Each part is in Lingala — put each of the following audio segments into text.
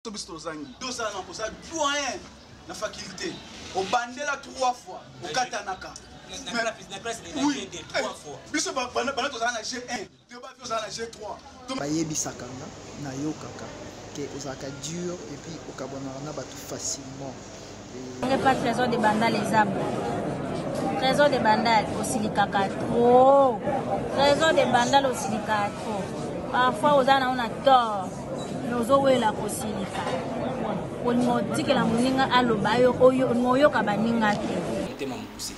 to biso tozangi tozala na koza doyen na faculté obandela trois fois okatanaka biso bana tozala na g1 yo bafi ozala na g3 bayebisaka nga nayokaka ke ozalaka dur epuis okabwanaka na bato facilement pas trésor de bandal eza bo trésor de bandal osilikaka trop trésor de bandal osilikaka trop parfois oza nango na tort mais ozowela kosilika olinga otikela moninga aloba yo olinga oyoka baninga te motema mokuse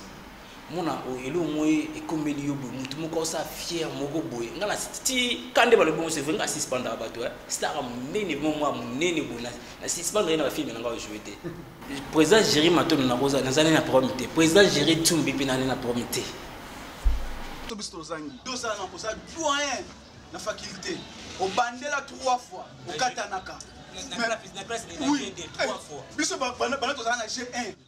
mona oyo eloko moko ekomeli yo boye motu moko osa fiere moko boye ngai nati kande balobi bongo sevre ngai asispandaka bato eh. stara monene mo mwa monene boye nasispandaka ye na bafilme na ngai ojoue te président géri matono nakoza nazali na problème te président géri tumbi mpe nani na problème te to biso tozangi tozala na koza doyen na faculté obandela trois fois okatanaka biso bana tozala na g1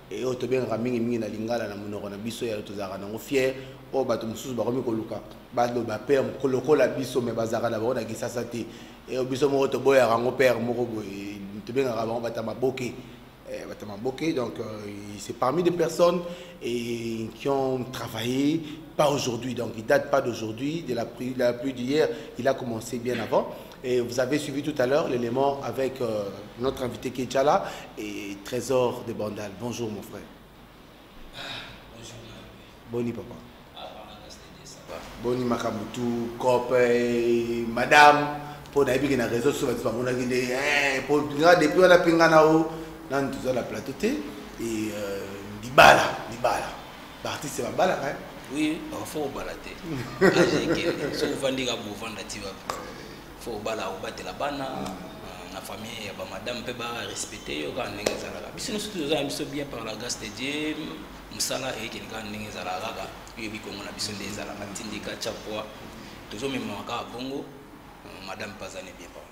e oyo tobengaka mingimingi na lingala na monoko na biso ya tozalaka nango fiere oyo bato mosusu bakomi koluka baloba pere lokola biso me bazalaka na bango na kisasa te e biso moko toboyaka yango pere moko boye tobengaka bango bata maboke eh, bata maboke donc euh, c'est parmi des personnes et, qui ont travaillé pas aujourd'hui donc il date pas d'aujourd'hui de la pluie d'hier il a commencé bien avant Et vous avez suivi tout à l'heure l'élément avec euh, notre invité qui est déjà là et Trésor de Bandal. Bonjour mon frère. Ah, bonjour. Boni papa. Ah, Boni Makamutu, Kope, eh, Madame. mpo nayebi ke na réseau so bato bamonaki nde eh, mpo nga depuis wana mpe nga na o nanu toza na plateau te e euh, libala libala ba artiste ba balaka hein? oui faut obala te age ekende soki ovandi kaka bovanda ti wapi faut obala obatela bana euh, na famille ya bamadame mpe barespecte yo kaka ndenge ezalaka biso nyonso toza na biso bien par la grâce de dieu mosala eyekende kaka ndenge ezalaka kaka oyebi kongo na biso nde ezalaka tindika tya poi tozomemama kaka bongo euh, madame mpe aza ne bien papa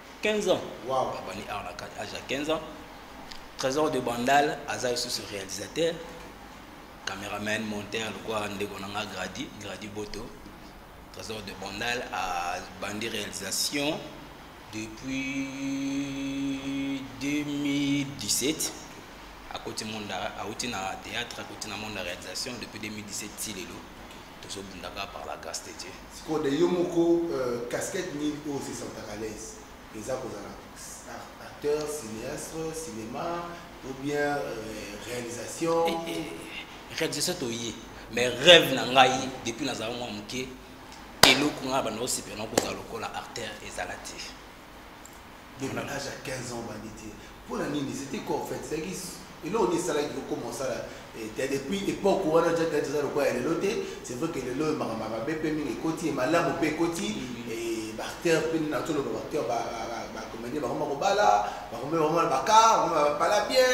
15 ans wow. abandi awa na kati age ya 15 ans trésor de bandal aza lisusu réalisateur cameraman monteur lokola ndeko na nga gradi gradi boto trésor de bandal abandi réalisation depuis 2017 akoti monde awuti na théâtre akoti na monde ya réalisation depuis 2017 ti lelo tozo bunda ka par la grâce de Dieu siko de yo moko euh, casquette nini oyo se sentir à l'aise eza kozala acteur cinéaste cinéma ou bien euh, réalisation eh, eh, réalisation toye mais rêve na ngai depuis nazala mwa moke eloko ngai banda osepela na kozala lokola acteur ezala te de l'âge à 15 ans bandi te mpo na nini c'était quoi en fait ezalaki eloko nini esalaki kokoma osala eh, depuis époque wana ja tete eza lokola ya lelo te c'est vrai que lelo oyo makambo mabe mpe mingi ekoti malamu mpe ekoti bacteur mpe nini natoloba bacteur bacomédien bakoma kobala bakoma bakoma bakar bakoma bapala bien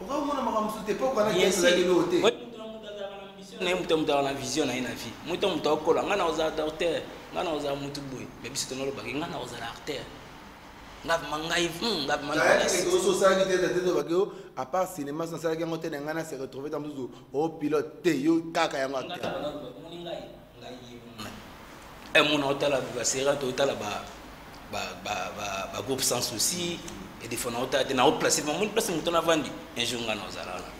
okamona makambo mosusu te mpo okana kezelakeli oyo te na ye moto motaka na vision na ye na vie moto moto akola ngai nakozala docteur ngai nakozala motu boye me biso tonolobaki ngai nakozala artère ngavima ngai ngavimaosalaki te tete tobaki yo apart cinéma nasalaki yango te na ngai na se retrouve ta mosusu o pilote te yo kaka yango acteur eh, mona otala basera to otala bagroupe sans souci edefona otala te naoplace mamoni place moto navandi un jour ngai naozala wana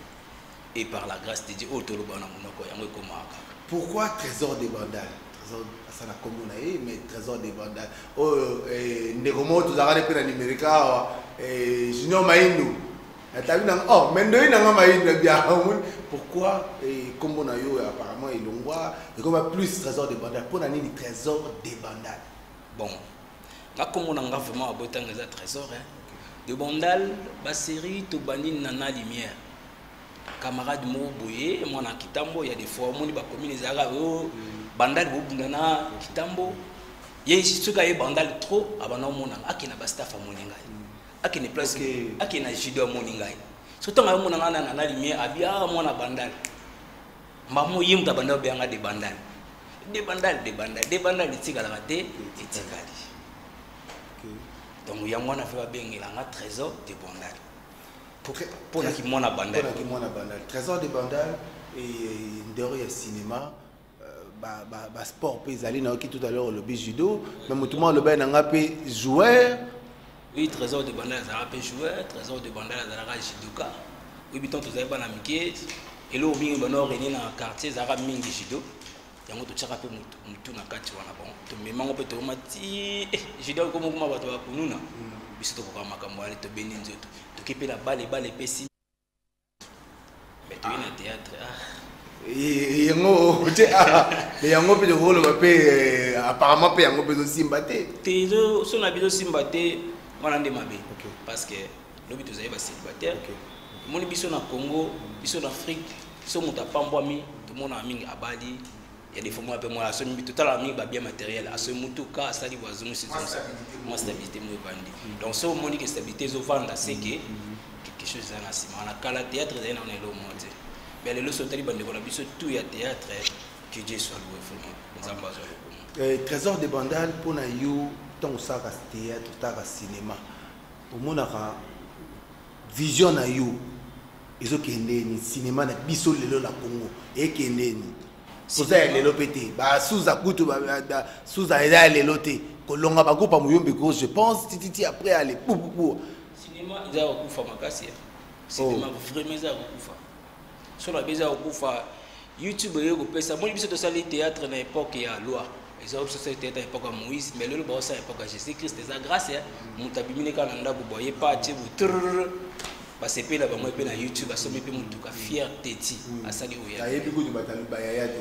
et par la grâce de dieu oyo toloba na monoko yango ekomaka kaka pourquoi trésor de bandal trésor asala nkombo na ye mais trésor de bandal oyo oh, eh, ndeko moko tozalaka nde mpe na numérika awa eh, junior maindu natabi nanga oh mais ndoyi nanga mayini na bia omoni pourquoi nkombo eh, na yo apparemment elongwa ekoma plus trésor de bandal mpo na nini trésor de bandal bon nga nkombo na nga vraiment abotanga eza trésor hein? de bandal baserie tobandi na na lumière camarade moko boye mwana ya kitambo ya defois omoni bakomine ezalaka oyo oh, mm. bandal bobunda na kitambo ye soki aye bandal trop abanda omonanga akenda bastaff amoni ngai akende place okay. akende na judo amoni ngai so ntango ayomona ngai nana na lumière abi a ah, mwana bandal mbamo ye moto abandal obeya ngai de bandal de bandal de bandal de bandal etikalaka te etikali donc yango wana mpe babengela nga trésor de bandal mpo na kimwana bandal trésor de bandal ndero ya cinéma basport mpe ezali nayoki tout à l'heure olobi judo mais motu mwa olobaki na ngai mpe joueur oui trésor de bandal azalaka mpe joueur trésor de bandal azalaka judoka oyebi ntango tozali bana mike eloko mingi bana orenie na quartier ezalaka mingi judo yango totyaka mpe motu na kati wana bon tomemango mpe toyoma ti eh, judo okomokoma bato bakununa mm. biso tokoka makambo wana tobeni nzoto toki mpe na bale bale epesi Mais tu es na théâtre. Ah. yango te me yango mpe tokoloba mpe apparemment mpe yango mpe ezosimba te te so na biso simba te wana nde mabe parce que lobi tozali bacélibataire omoni biso na congo biso na afrique biso moto apambwami tomonaka mingi abali ya defo mwa mpe mwa asomi totalaka mingi babien matériel asomi motuka asali bo azongisi zonso mwa stabilité mo evandi donc soki omoni ke stabilité ezovanda seke quelque chose eza na nsima wana kala théâtre ezali nano elo mo te mais lelo soki otali bandeko na biso tout ya théâtre que dieu soit loué vraiment nzambe azwa lokumu eh, trésor de bandal mpo na yo ntango osalaka théâtre otalaka cinéma omonaka vision na yo ezokende ni cinéma na biso lelo na Congo ekende ni oza ya lelo mpe te basuza kutu suza eza ya lelo te kolonga bakupa moyombi ko je pense tititi après ale pupupu cinéma eza kokufa makasi cinéma vraiment eza kokufa solo abe eza kokufa youtube oyo kopesa moni biso tosali théâtre na époque ya loi eza biso tosali théâtre na époque ya moïse mais lelo baosala époque ya jésus christ eza grâce ya moto abimini kaka na ndako boye pa atie botrr basepeli na bango mpe na youtube asombi mpe motuka fier teti asali oyo ayebi kutu bato bayaya te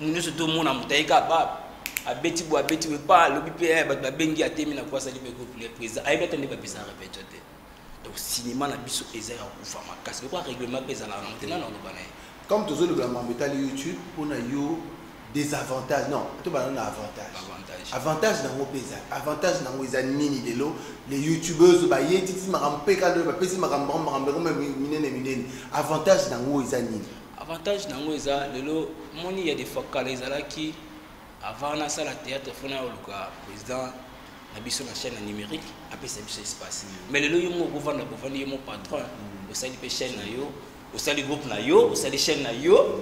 mutu nyonso tomona moto ayeka ba abeti bo abeti we pa alobi mpe eh, bato babengi atemi na kwasali mpe kopule président ayebi ata nde bapesaka repetio te donc cinéma na biso eza ya kufa makasi lokola règlement mpe ezalaka nango te nana oloba na ye comme tozolobela mambo etali youtube mpo na yo désavantage non tobanda na avantage avantage nango mpe eza avantage nango eza nini lelo le youtubeurs baye titi makambo mpe kando bapesi makambo bango makambo yango minene minene avantage nango eza nini Avantage nango eza lelo moni ya defakala ezalaki avant na sala théâtre fona ya oluka président na biso na chaîne numérique apesa biso espace mais lelo yo moko vanda bovandi yo mo patron osali pe chaîne na yo osali groupe na yo osali chaîne na yo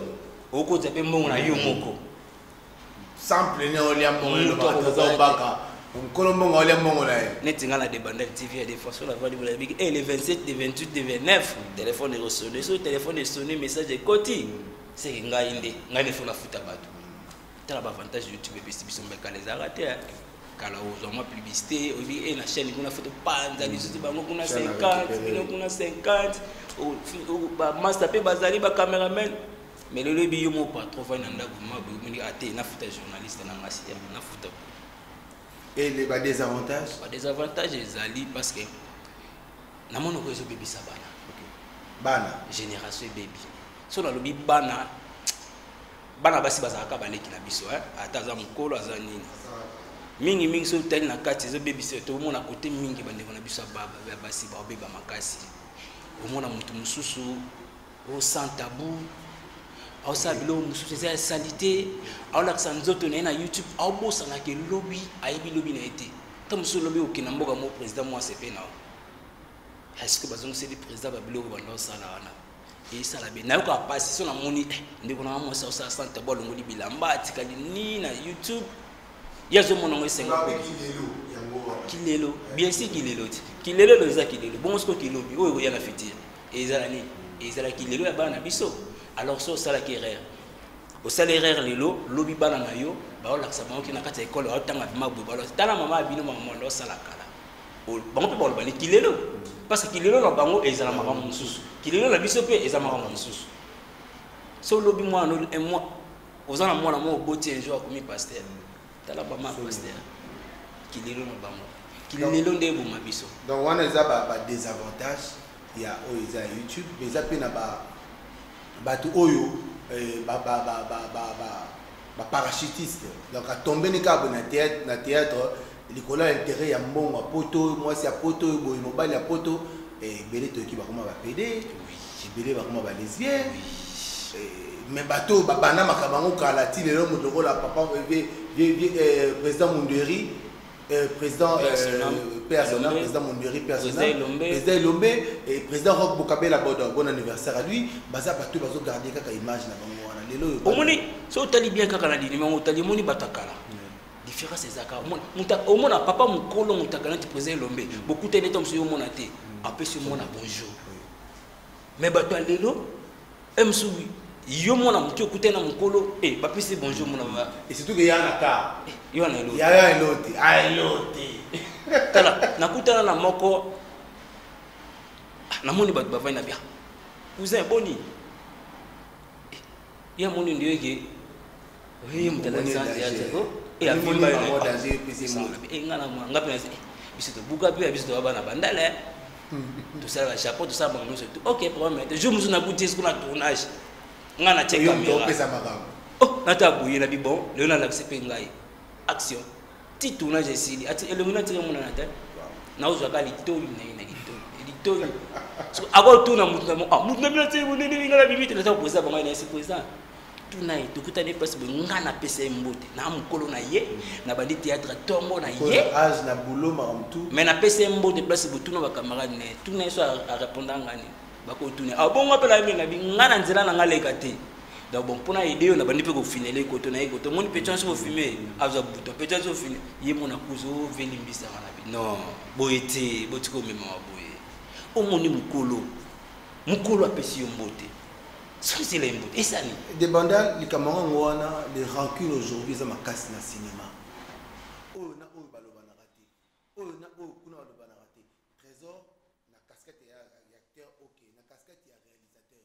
okozwa pe mbongo na yo moko sans plene olia mbongo eloba toza obaka nkolo mbongo olia mbongo na ye neti ngai na debandaki tv ya defense oyo navandi bola yebiki e le 27 de 28 de 29 telefone ekosone soki telefone esoni message ekoti seke ngai nde ngai nefo nafuta bato tala baavantage youtube epesi biso mbekala ezalaka te kala ozwa mwa publicité oyebi e na chaîne kuna foto panza lisusu bango kuna 50 bino kuna 50 bamasta mpe bazali bacameraman mais lelo ebi yo moko patron fai na ndako ma boyebini ate nafuta journaliste na ngasi ya nafuta et les ba désavantages ba désavantages ezali parce que na mona ko ezobebisa bana okay. bana génération ebebi so nalobi bana bana basi bazalaka baleki na biso eh? ata aza mokolo aza nini mingi mingi soki otali na kati ezobebisa tomona kote mingi bandeko na biso ya basi baobeba makasi omona moto mosusu o oh, sans tabou aosala biloko mosusu eza ya salite aolakisa nzoto na ye na youtube aobosanaka elobi ayebi lobi na ye te ta mosusu olobi okenda mboka mo président mwasi epe nao eske bazongiseli président babiloko banda osala wana esala be nayoka mpasi so namoni eh, ndeko nanga mwasi aosala sante bo alongoli bilamba atikali ni na youtube ye azomona yango esengo kilelo bien si kilelo ti kilelo eloza kilelo bongo siko kilobi oyo ekoya na fitire ezala nini ezalaki lelo ya bana na biso alors so osalaki erreur osala erreur lelo lobi bana na yo baolakisa bango kina kati ya ekole baotanga vrima boye balo tala mama ya bino mamondo osala kala bango mpe baloba ni kilelo parce que kilelo na bango ezala makambo mosusu kilelo na biso mpe eza makambo mosusu so lobi mwana oza na mwana moko oboti un jour akomi pasteur tala bama pasteur kilelo na bango kilelo nde eboma biso donc wana eza badesavantage ya oyo eza ya youtube mais eza mpe na bato oyo eh, baparachutiste donc atombe ni kaka na théâtre na théâtre likolo ya intérêt ya mbongo ya poto mwasi ya poto boye mobali ya poto eh, ebele toyoki bakoma bapede Jibele bakoma ba lesbiens. Eh, mais bato oyo babanda makambo yango kala ti lelo moto lokola papa eh, eh, président monderi eh, président personnel président monderi personnel président elombe et président rock bokabela bodo bon anniversaire à lui baza bato oyo bazogarde kaka image na bango wana lelo oyo omoni so otali bien kaka na linima yango otali omoni bato ya kala différence ezaka omona papa mokolo moto akanati président elombe bokutani ntango mosusu omona te apesi omona bonjour mais bato ya lelo emsubi yo mwana moke okute na mokolo e bapesi bonjour mona ba et surtout que ya na ka eh, yo na eloti ya ya eloti a ah, eloti tala nakutana na moko ah, namoni bato bavandi na bia cousin boni ya moni ndio eke oye moto alaki sanze ya teko e avimba yo e nga na mwa nga mpe nase biso tobuka mpe ya biso toba bana bandala tosalaka japon tosala bango nyonso tu ok problème te jour mosusu nakuti ye sikona tournage nga na tie kamera nata boye na bibon lelo nalakisi mpe ngai action ti tournage esili ati elongi natiki emonana te naozwaka litoli na ye na litoli eh, litoli akotuna motu na ah, motu na bino ti monene nga na bibi te naza kopreza bango ye na ye sepreza tuna ye tokutani place boye nga napesa ye mbote na mokolo na ye na bandi théâtre tongo na ye mais napesa ye mbote place botuna bacamarade na ye tuna ye so arépondra nga nini bakotuna abongo ah, apela ye mbe na bi nga na nzela na nga leka te donc bon mpona aide yo nabandi mpe kofinele ekoto na ye ekoto omoni mpe tyanso ofime azwa buto mpe tyanso ofine ye mona kuzu oveli mbisaka na bi non boye te botika omemama boye omoni mokolo mokolo apesi yo mbote sozela ye mbote esani debanda likambo yango wana le rancune aujourd'hui eza makasi na cinéma oyo na oyo balobanaka te oyo na oyo kuna balobanaka te trésor na casquette ya acteur ok na casquette ya réalisateur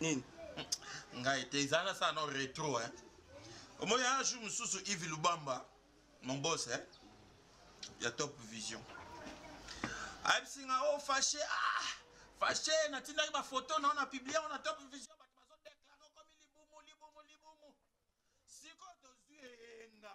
nini ngai te eza na sana retro eh omoni un jour mosusu ivi lubamba mon boss eh ya top vision ayebisi nga o oh, fache ah fache natindaki bafoto nao na publie ona top vision bato bazodeklare okomi libumu libumu libumu sikoyo tozwi eyenga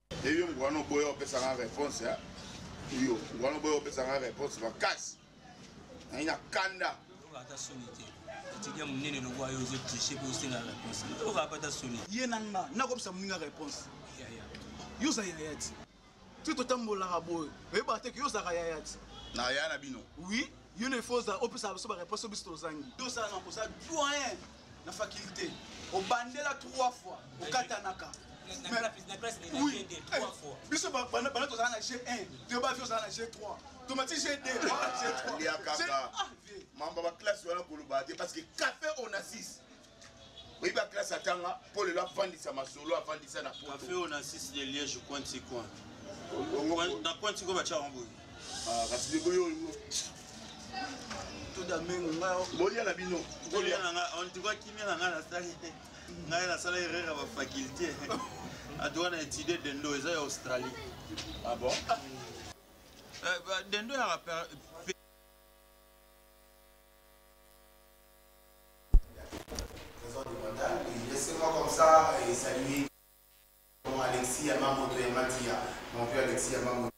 eyo ngwana oboya opesanga réponse ya yo ngwana oboya opesanga réponse makasi nayi na kanda ata soni te etidia monene lokola yo ozo triche mpe osenga réponse oyoka mpe ata soni ye na nga nakobisa moninga réponse yo oza yaya ti ti totambolaka boye oyebaka te ke yo ozalaka yaya ti na yaya na bino oui yo na efo oza opesaka biso baréponse oyo biso tozangi tosala na kosala doyen na faculté obandela trois fois okatanaka biso bana tozala na g1 to bavi ozala na g3 tomati g2 mamba baklasse wana koloba te parce que café onasis oyebi baklasse atanga mpo lelo afandisa masolo afandisa na poto na coin coin na coin sikoyo batyaka boye Ah, kasi ndeko yo bolia na bino antuka kimia na ngai nasali ngai nasala erreur ya bafaculte adoka na étude dendo eza ya australie ah bon eh, dendo ya Laissez-moi comme ça et saluer mon Alexis Yamamoto Yamatia, mon vieux Alexis Yamamoto.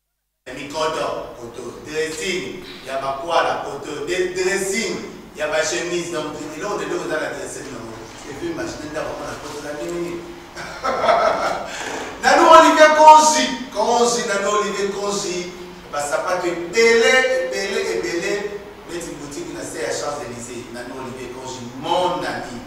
ya mikoto koto dressing ya bakwala koto dressing ya bachemise donc eloko na eloko eza na dressing nango epuis machine nde akomona koto na nini nanu olive konzi konzi nanu olive konzi basapato ebele ebele ebele neti boutique na se ya champs elysée nanu olive konzi mon ami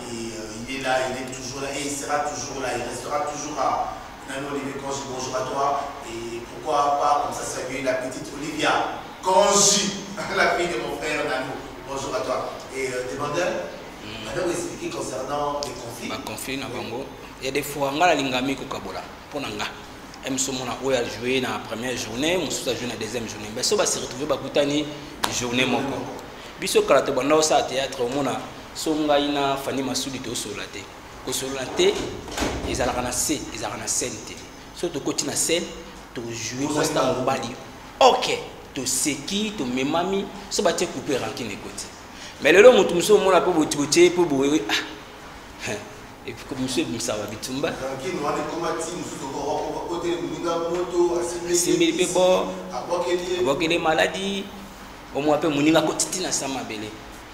et, euh, il est là il est toujours là et il sera toujours là il restera toujours là Nani Olivier Conji bonjour à toi et pourquoi pas comme ça saluer la petite Olivia Conji la fille de mon frère Nani bonjour à toi et euh, demandeur mm. madame expliquer concernant les conflits ba conflits na bango il y a des fois ngala lingami ko kabola pona nga mso mona oyo ajoue na première journée mosusu ajoue na deuxième journée mais so basi retrouve bakutani journée moko biso kala tobanda osala théâtre omona so ngai na fani masudi tosolola te kosolola te ezalaka na se ezalaka na scène te soki tokoti na scène tojoue mwasi na mobali ok toseki tomemami so batie coupe rankine ekoti mais lelo moto mosusu omona mpe botie mpe boye ah, mosusu ebimisaka bitumba asimbeli mpe bo abwakeli maladi omwa mpe moninga akotiti na sa mabele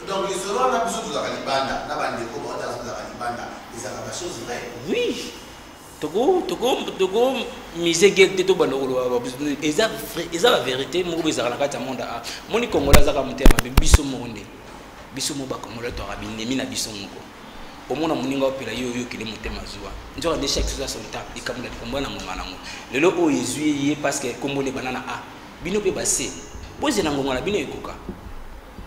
Donc lisolo wana biso tozalaka libanda na bandeko bango tala tozalaka libanda ezalaka ba chose vrai oui toko toko toko mise guerre te tobanda koloba eza eza ba vérité moko ezalaka na kati ya monde a moni kongola azaka motema mabe biso moko nde biso moko bakongola toyaka binemi na biso moko omona moninga opela ye oyokele motema zuwa nzoka nde chaque chose a son temps likambo na likambo na ngonga nango lelo oyo ezwi ye parce que kombo nde bana na a bino mpe base bozela ngonga na bino ekoka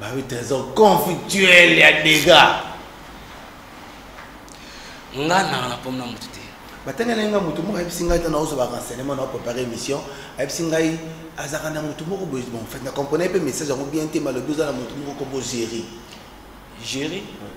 Bah oui, trésor conflictuel ya dégâts. Nga na na pomna mutu te. Batanga na nga mutu moko ayebisi ngai tana ozo ba renseignement na préparer émission. Ayebisi ngai azaka na mutu moko boye bon fait na comprenais pe message yango bien te malobi oza na mutu moko kombo gérer. Gérer? Ouais.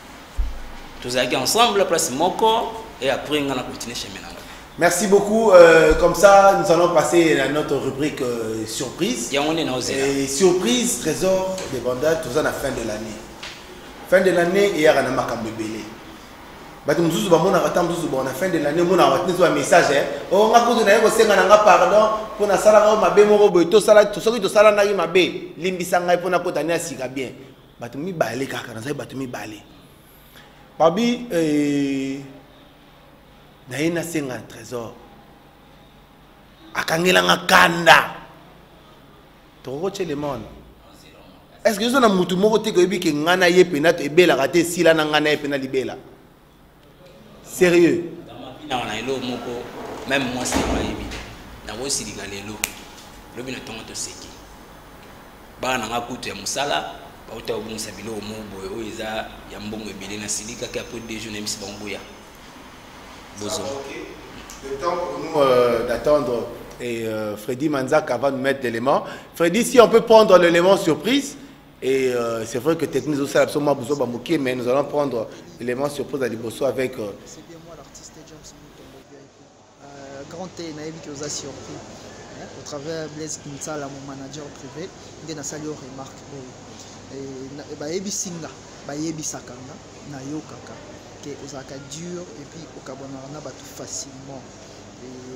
tozalaki ensemble place moko et après nga na continuer chemin nanga Merci beaucoup. Euh, comme ça, nous allons passer à notre rubrique euh, surprise. Et surprise, trésor des bandas, tout ça à la fin de l'année. Fin de l'année, il y a un makambebele. bato mosusu bamonaka ntango mosusu bon na fin de l'année omonaka bato nyonso bamessage eh. o oh, nga kutu naye kosenga na nga pardon mpo nasalaka yo mabe moko boye soki tosalanaki mabe limbisa ngai mpo nakota ne ya sika bien bato mibale kaka nazali bato mibale babi eh, naye nasenga na trésor akangelanga kanda tokokotya elemone est ce que oza na motu moko te koyebi ke ngai na ye mpena ebelaka te esila na ngai na ye mpena libela sérieux nawa na elo moko meme mwasi na mayebi nakosilika lelo lobi na ntongo toseki bana na nga kutu ya mosala bauta kobongisa biloko moko boye oyo eza ya mbongo ebele nasilikaki apres deux jours nayebisi bango boya bozonga Le temps pour nous euh, d'attendre et euh, Freddy Manzaka va nous mettre l'élément. Freddy, si on peut prendre l'élément surprise, Et euh, c'est vrai que technique au salab soma buzo ba mokie mais nous allons prendre l'élément surprise à liboso avec euh... C'est bien moi l'artiste James Mouton euh, grand T nayebi que oza surpris hein, au travers Blaise Kinsala mon manager privé nde nasali yo remarque boye et bayebisi nga bayebisaka nga nayokaka ke ozalaka dur et puis okabwanaka na bato facilement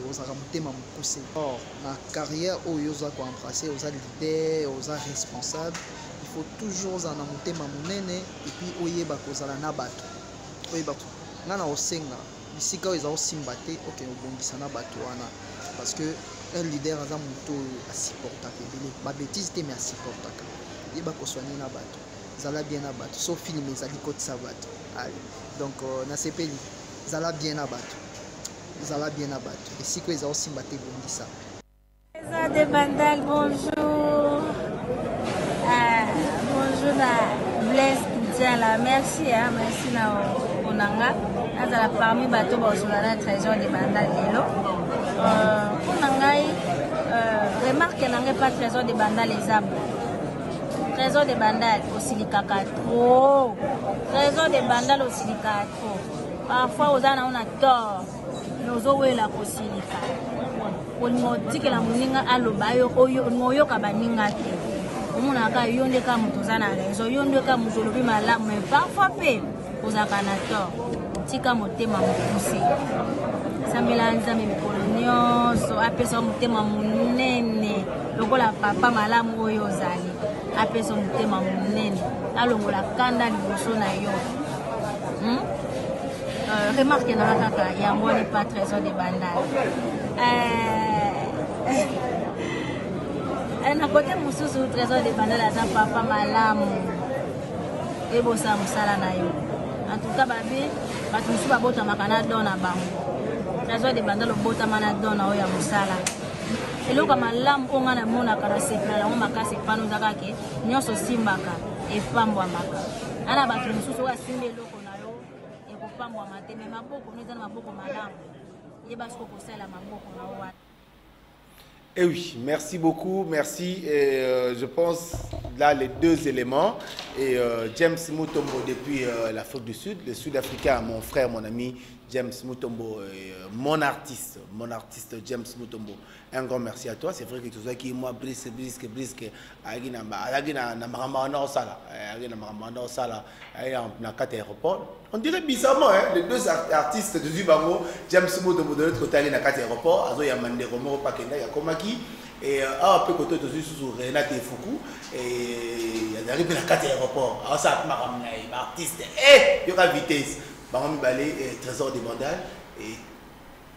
ozalaka motema mokuse or na carrière oyo oza koembrasse oza leader oza responsable il faut toujours ozala na motema monene epuis oyeba kozala na bato oyeba ngai na kosenga bisika oyo eza kosimba te oke obongisa na bato wana parce que un leader aza moto oyo asupportaka ebele babétise te mais asupportaka yeba koswani na bato zala bien na bato so filme ezali kotisa bato donc euh, nasepeli zala bien na bato zala bien na bato esika oyo eza osimba te bongisa eza de bandal bonjour ah, bonjour na blaise kidiala merci ah, merci na mpona nga nazala parmi bato baozola na trésor de bandal lelo mpona euh, ngai euh, remarke na ngai mpa trésor de bandal eza bo trésor de bandal osilikaka trop trésor de bandal osilikaka trop parfois oza nao na tort mais ozowela kosilika olinga otikela moninga aloba yo olinga oyoka baninga te omonaka yo nde ka moto oza na raison yo nde ka moto olobi malamu mais parfois mpe ozalaka na tort tika motema mokuse sambela nzambe mikolo nyonso apesa yo motema monene lokola papa malamu oyo ozali apesa motema monene alongola kanda liboso na yo hmm? euh, remarque nanga kaka yango wana epa trésor de bandal euh, eh, na kote mosusu trésor de bandal aza papa malamu ebosa mosala na yo en tout cas babe bato mosusu babotamaka na don na bango trésor de bandal obotama na don na oyo ya mosala eloko malamu oyo ngai namonaka na sepela yango makasi epano eza kake nyonso osimbaka epambwamaka ana bato mosusu oyo asimbi eloko na yo ekopambwama te me maboko no eza na maboko malamu yeba soko kosala maboko na yo wana Eh oui, merci beaucoup, merci. Et, euh, je pense là les deux éléments. Et euh, James Mutombo depuis euh, l'Afrique du Sud, le Sud-Africain, mon frère, mon ami, James Mutombo, euh, mon artiste, mon artiste James Mutombo. un grand merci à toi c'est vrai que tozwaki mwa brise briske briske ayaki na ayaki na na makambo wana osala eh, ayaki na makambo wana osala ayaki na kati ya aéroport on dirait bizarrement hein, les deux artistes tozwi bango james moto moto neti kotali na kati ya aéroport azoyamba ndeko moko pakenda yakomaki eh, awa mpe koto tozwi susu renate efuku eh, azalaki mpe na kati ya aéroport aosala mpe makambo na ye baartiste yoka vitesse bango mibale trésor de bandal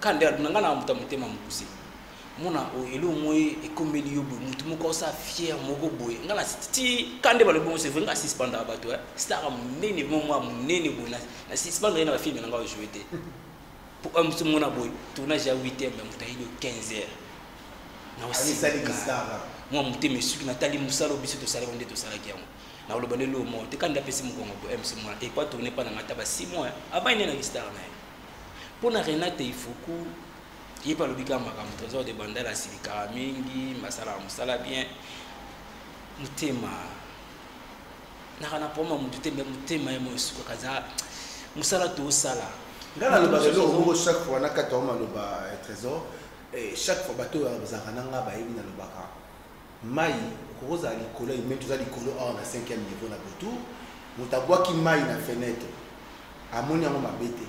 kande aluna nga na moto ya motema mokuse mona oyo oh, eloko moye ekomeli yo boye motu moko osa fiere moko boye nga na ti kande balobi bongo sevre nga suspendaka bato eh. stara monene mo mwa monene boye na suspendre ye na bafilme na nga ojoue te po eh, mosu mona boye tournage ya 8 heure me moto ayeli yo 15 heure naosilika mwa motema esuki natali mosala oyo biso tosalaki nde tosalaki yango nakoloba nde loo moko te kande apesi mokongo boye eh, msu mwana epa tourne mpa na nga ta ba 6 mois eh. abani nde na listara na ye mpo na renate ifuku ye mpe alobi kaka makambo trésor de bandala asilikaka mingi basalaka mosala bien motema naka na poma motu te me motema ye mo esukaka eza mosala tosala ngai nalobaka eloko moko chaque fois na kati yango maloba eh, trésor eh, chaque fois bato oyo bazalaka na ngai bayebi nalobaka Mai okoki ozala likolo ya imei toza likolo awa na 5e niveau na botour moto abwaki mai na fenêtre amoni yango mabe te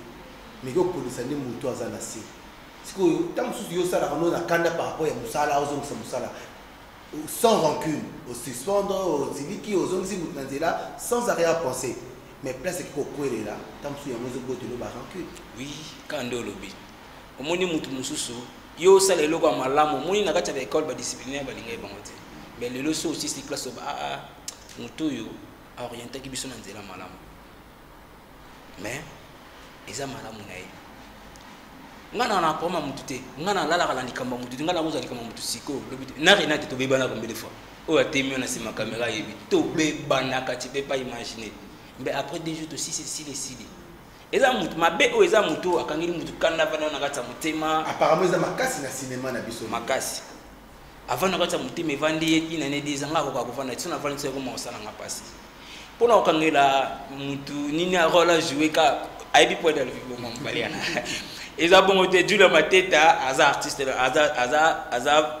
meke okolisa nde moto aza na se sikoyo ntango mosusu yo osalaka no na kanda par rapport ya mosala ozongisa mosala sans rancune osuspendre osiliki ozongisi moto na nzela sans arrière pensée mais place ekoki kokwelela ntango mosusu yango ezobotelo ba rancune oui kanda olobi omoni mutu mususu yo osala eloko ya malamu omoni na kati ya baekole badisciplinaire balingaki bango te me lelo so osisi classe oba aa ah, ah, motu oyo aorientaki biso na nzela malamu me eza malamu na ye ngai na nakoma motu te ngai nalalaka na likambo ya motu te ngai nakozwa likambo ya motu sikoyo lobi te na renate tobebanaka mbele fois oyo atemi na nsima kamera ayebi tobebanaka ti mpe pa imagine mbe après deux jours tosisi esili esili eza mutu mabe oyo eza mutu oyo akangeli mutu kanda vanda na kati ya motema apparemment eza makasi na cinéma na biso makasi avant na kati ya motema evandi ye une année deux anga akoka kovanda ti so navandi ti ekoma kosalanga mpasi mpo na kokangela mutu nini role ajoue ka ayebi po edal viboma mobali yana eza bongo te jule mateta aza artiste aza aza aza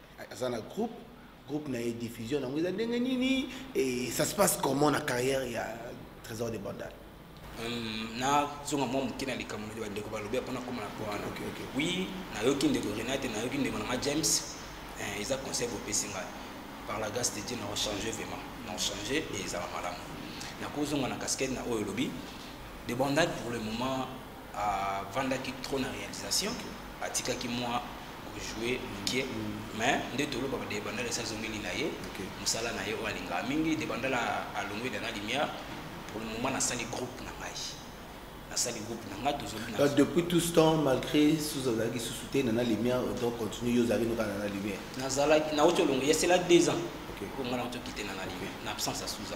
aza na groupe groupe na ye diffusion nango eza ndenge nini et ça se passe comment na carrière ya trésor de bandal hmm, nazonga mwa moke na likambo nde bandeko balobi mpona koma na po wana oui nayoki ndeko renate nayoki ndeko na nga james eh, eza conseil bopesi ngai par la grâce de dieu na ochange vraiment na ochange e ezala malamu nakozonga na casquette na oyo olobi de bandal pour le moment avandaki trop na réalisation atikaki mwa kojoue moke mm. mais nde tolobaka de bandala esi azongeli na ye mosala na ye oyo alingaka mingi de bandala alongwe dana lumière pour le moment nasali groupe na ngai nasali groupe na ngai tozongi depuis tout ce temps malgré susu azalaki susu te nana lumière autant continue yo ozalaki noka nana lumière nazalaki nauti olongo yesela deux ans oyo ngai nauti okite nana lumière na absence ya suza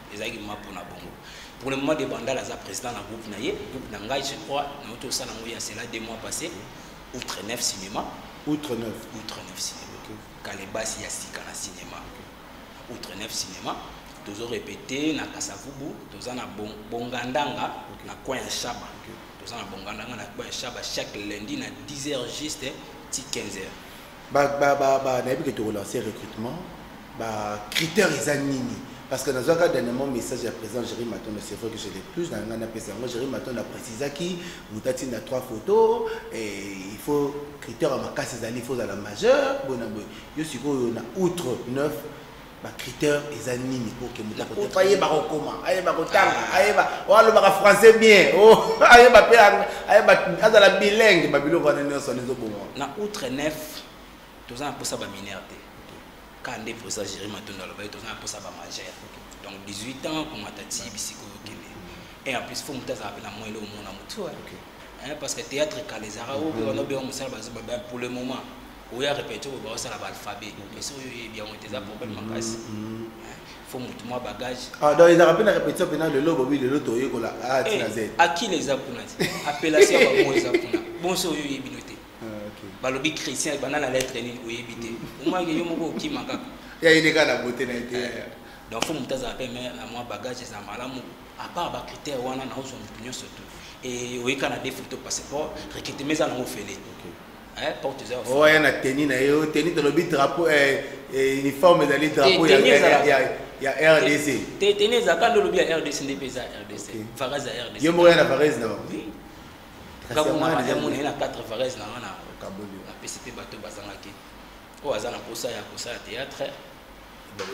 ezalaki mma mpo na bongo pour le moment de bandal aza président na groupe na ye groupe na ngai je crois nauti osala yango ya cela deux mois passé outre neuf cinéma outre neuf outre neuf cinéma okay. kalebasi ya sika na cinéma outre neuf cinéma tozo répété na kasavubu toza na bongandanga okay. na coin ya shaba okay. toza na bongandanga na coin ya shaba chaque lundi na 10 heures juste ti 15 heures ba ba ba ba nayebi ke toko lancer recrutement ba critères eza nini parce que nazwaka dernièrement message ya président Jerry Matondo c'est vrai que je l'ai plus na ngai napesa yango Jerry Matondo aprécisaki moto atinda trois photos et il faut critère ya makasi ezali il faut ozala majeur boye na boye yo sikoyo na outre 9 ba critère eza nini pour que mutu akote ayeba kokoma ayeba kotanga ah. ayeba alobaka français bien oh, ayeba mpe ayeba azala bilingue babiloko wana nyonso wana ezoboma na outre nef toza na mposa baminere te kaa nde mposa géri matondo alobaki toza na mposa bamagere donc 18 ans komata ti bisika oyo okende et en plus fo motu azala mpe na moyele omona motu parce que théâtre kala ezalaka oyo wana obenga mosala bazoba pour le moment oya repete oyo baosala baalphabet donc esi oyo oyebi yango te eza mm, problème mm, makasi mm. eh, fo motu mwa bagage ah, donc ezalaka mpe na repetition mpena lelo bobi lelo toyekola a tina z akila eza kuna te appellation ya bango eza kuna bonso oyo oyebi no te ah, balobi christian banda na lettre nini oyebi te omwake yo moko okima kaka ya eleka na bote na ye te eh, donc fo motu azala mpe me na mwa bagage eza malamu apart bacritère wana naozwa motu nyonso tu oyebi kaka na defoto passeport recrutement eza nango ofele Eh, porte eza oyo aya na teni na ye oyo teni tolobi drapeau eh, eh, uniforme ezali drapeau ya rdc te teni ezalaka nde olobi ya rdc nde mpe eza rdc varez ya rdc yo moko ya na varez na kakongana ya mona ye na 4 varez na nga na apesi mpe bato bazangaki oyo aza na posa ya kosala théâtre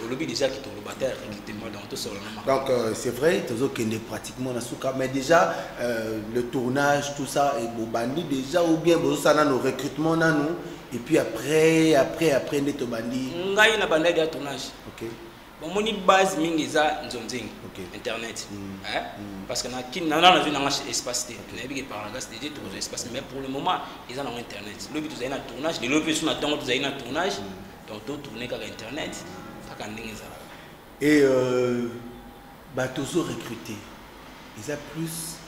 olobi déjà ke toloba te recrutement donc tosolana makambo donc euh, c'est vrai tozokende pratiquement na suka mais déjà euh, le tournage tout ça et bobandi déjà ou bien bozosala nano recrutement nanu et puis après après après nde tobandi ngai nabandaki ya tournage okay. bomoni base mingi eza nzonzengi okay. internet mm. Hein? Mm. parce que na kin na na nazwi nanga espace te okay. nayebi ke parangas deje tokozwa espace mais pour le moment eza nango internet lobi tozali na tournage lelo mpe so na ntongo tozali na tournage mm. donc totourne kaka internet kaka ndenge ezalaka et euh... Bato ozo recruter eza plus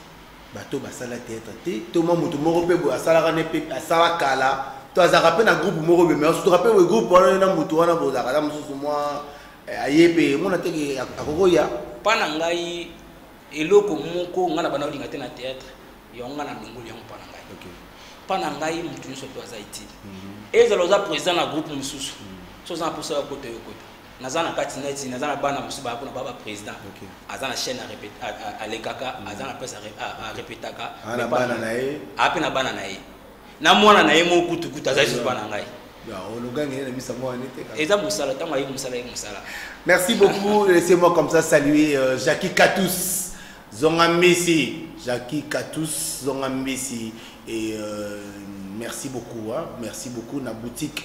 bato oyo basala theatre te to mwa moto moko mpe boye asalaka ne mpe asala kala to azalaka mpe na groupe moko boye mais osutuka mpe boye groupe wana na moto wana bozalaka ata mosusu mwa eh, aye mpe mona teke akokoya mpa na ngai eloko moko ngai na banda olinga te na théâtre yango ngai na longoli yango mpa na ngai mpa na ngai moto nyonso mpe aza itile mhm. ezala oza président na groupe mosusu mhm. so oza na mposa ya kota yo kota naza na kati neti naza na bana mosusu baya kuna baba président aza na chaîne alekaka mm. aza na presse arepetaka ape na bana na ye na mwana na ye moko kutukutu aza lisusu bana ngai eza mosala ntango aye mosala ye mosala merci beaucoup laissez moi comme ça saluer euh, jacqui katus zonga mbisi jacqui katus zonga mbisi et euh, merci beaucoup hein? merci beaucoup na boutique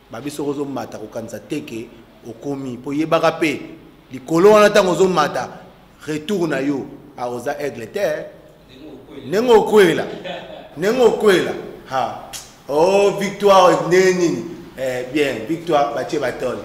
babi soki ozomata kokanisa te ke okomi mpo yebaka mpe likolo wana ntango ozomata retour na yo aoza aigle te ndenge okwela ndenge okwela ha o oh, victoire ndenge nini eh, bien victoire batie batole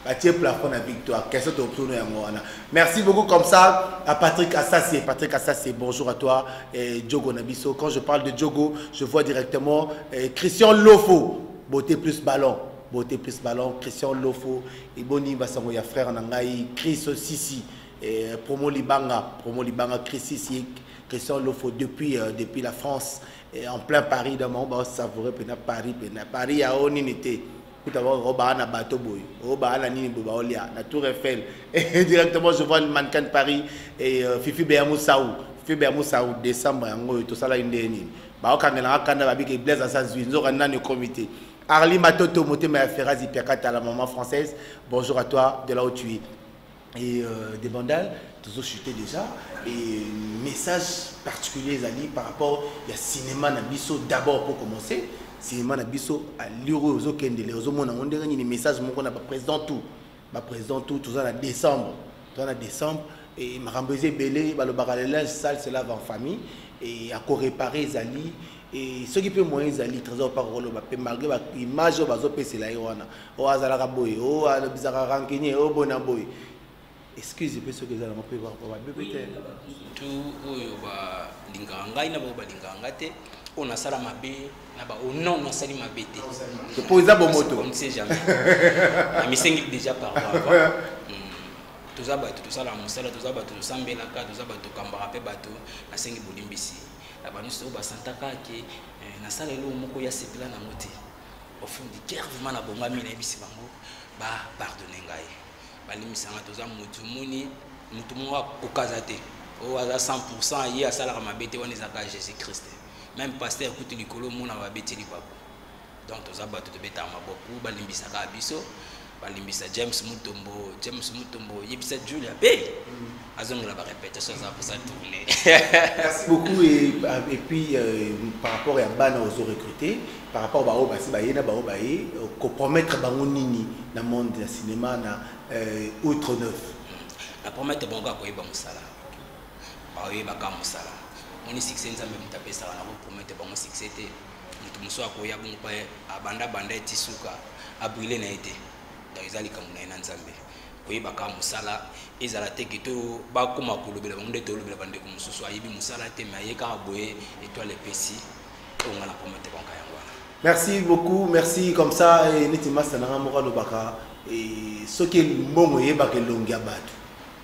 batie plafond na victoire question tokotono yango wana merci beaucoup comme ça à patrick asasi patrick asasi bonjour à toi eh, djogo na biso quand je parle de djogo je vois directement eh, christian lofo Beauté plus ballon, beauté plus ballon, Christian Lofo, et boni basango ya frère na ngai, Chris Sisi, eh, promo libanga, promo libanga, Chris Sisi, Christian Lofo depuis euh, depuis la France, et en plein Paris, dans mon bas savoureux pena Paris pena Paris ya o nini te. Kuta ba o ba na bateau boy, o ba na nini bo ba olia, na Tour Eiffel. Et directement je vois le mannequin de Paris et euh, Fifi Beamou Saou, Fifi Beamou Saou décembre yango to sala inde nini. bakokangela nga kanda babiki blaise asa zwi nzoka nani okomi te arli matoto motema ya ferazi piakata la maman française bonjour à toi de là où tu es et euh, des bandales toujours chuté déjà et message particulier ezali par rapport ya cinéma na biso d'abord pour commencer cinéma na biso allure oyo ozokendele ozomona yango ndenge nini message moko na baprésident tout ba président tout toza na décembre toza na décembre et makambo eza ebele balobaka le linge sale se lave en famille et akorepare ezali et soki mpe moyen ezali trésor mpaka koloba mpe malgré baimage oyo bazopesela ye wana oyo azalaka boye oyo alobisaka rancunier oyo boye na boye excuse mpe soki eza nango mpe babebe te tu oyo balingaka ngai na bango balingaka ngai te oyo nasala mabe naba o oh non nasali mabe te po eza bomoto on ne sait jamais amisengi déjà pardon avant hmm. toza bato tosala mosala toza bato tosambelaka toza bato tokambaka mpe bato nasengi bolimbisi na banyonso oyo basantaka ke eh, nasala eloko moko ya sepela nango te au fond du cœur vraiment nabongami nayebisi bango bapardone ngai balimbisa ngai toza motu moni motu moko akokaza te oyo aza 100 ye asalaka mabe te wana ezalaka jésus christ meme pasteur kutu likolo omona babeteli bango donc toza bato tobetaka maboku balimbisaka biso balimbisa james mutombo james mutombo yebisa julia pe mm. azongela barépétation aza posa tourne merci beaucoup et, euh, et puis euh, par rapport ya bana ozo recruter par rapport baoyo basi baye na baoyo baye euh, kopromettre bango nini na monde ya cinéma na euh, outre neuf mm. na promettre bango akoyeba mosala baoyebaka mosala moni succès nzambe moto apesaka na kopromete bango succès te moto mosusu akoya bongo mpe abanda banda eti suka abrile na ye te donc eza likambo na ye na nzambe koyebaka mosala ezala te ke to bakoma kolobela bango nde tolobela bandeko mosusu ayebi mosala te me aye kaka boye etoile epesi oyo ngai na promete banka yango wana merci beaucoup merci comme ça eh, neti masta na ngai moko alobaka eh, soki mbongo eyebaka elongi ya bato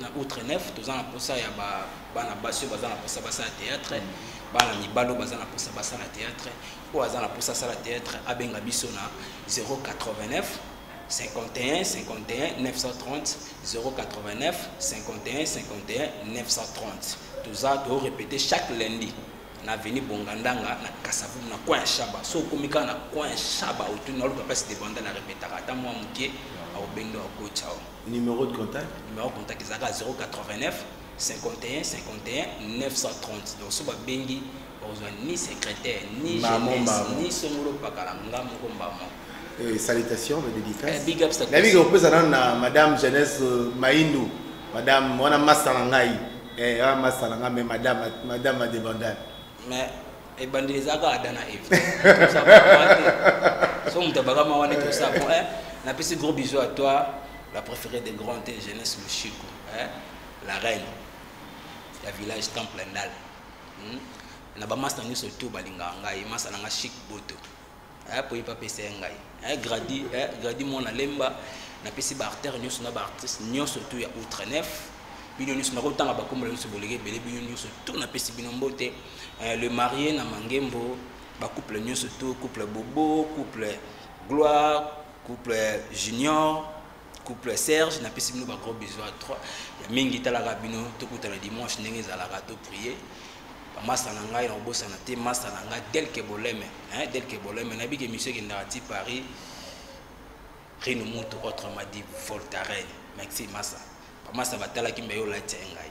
na outre neuf toza na mposa ya bana basi oyo baza na mposa basala théâtre bana mibali oyo baza na mposa basala théâtre oyo aza na mposa asala théâtre abenga biso na 089 51 51 930 089 51 51 930 toza toorepete chaque lundi na aveni bongandanga na kasavumu na coin ya shaba so okomi kaka na coin ya shaba otuni naoluka place debanda na repetaka ata mwa moke aobendo akocawa Numéro de contact Numéro de contact ezalaka 089 51 51 930. Donc soba bengi okozwa ni secrétaire ni jeunesse ni songolo pakala nga moko mbamo. Eh, salutations de dédicace. Eh, big up salutations. Nabi kopesa nanu na madame jeunesse euh, Maindu, madame wana masta na ngai. Eh, wana masta na ngai mais madame madame Adebandane. Mais ebandeli eza kaka ada na eve so moto abakama wana tosa bon eh, napesi gros bisou à toi la préférée de grand te jeunesse lushiko eh, la reine ya village temple ndal hmm? na bamasta nyonso to balingaka ngai masa na ngai chic boto eh, po ye mpe apesa ye ngai eh, gradi eh, gradi mwana lemba napesi baartere nyonso na baartiste nyonso tu ya outre nef bino nyonso nakotanga bakombola nyonso boleki ebele bino nyonso tu napesi bino mbote eh, le marie na mangembo bacouple nyonso tu couple bobo couple gloire couple junior couple serge napesi bino ba gros bisous à trois ya mingi etalaka bino tokutana dimanche ndenge ezalaka to prier bamasta na ngai na kobosana te masta na ngai delke boleme delke boleme nayebi ke misio ekendaka ti paris rino mutu autrement dit voltaren maxi masa bamasa batalaki mbe yo olati ya ngai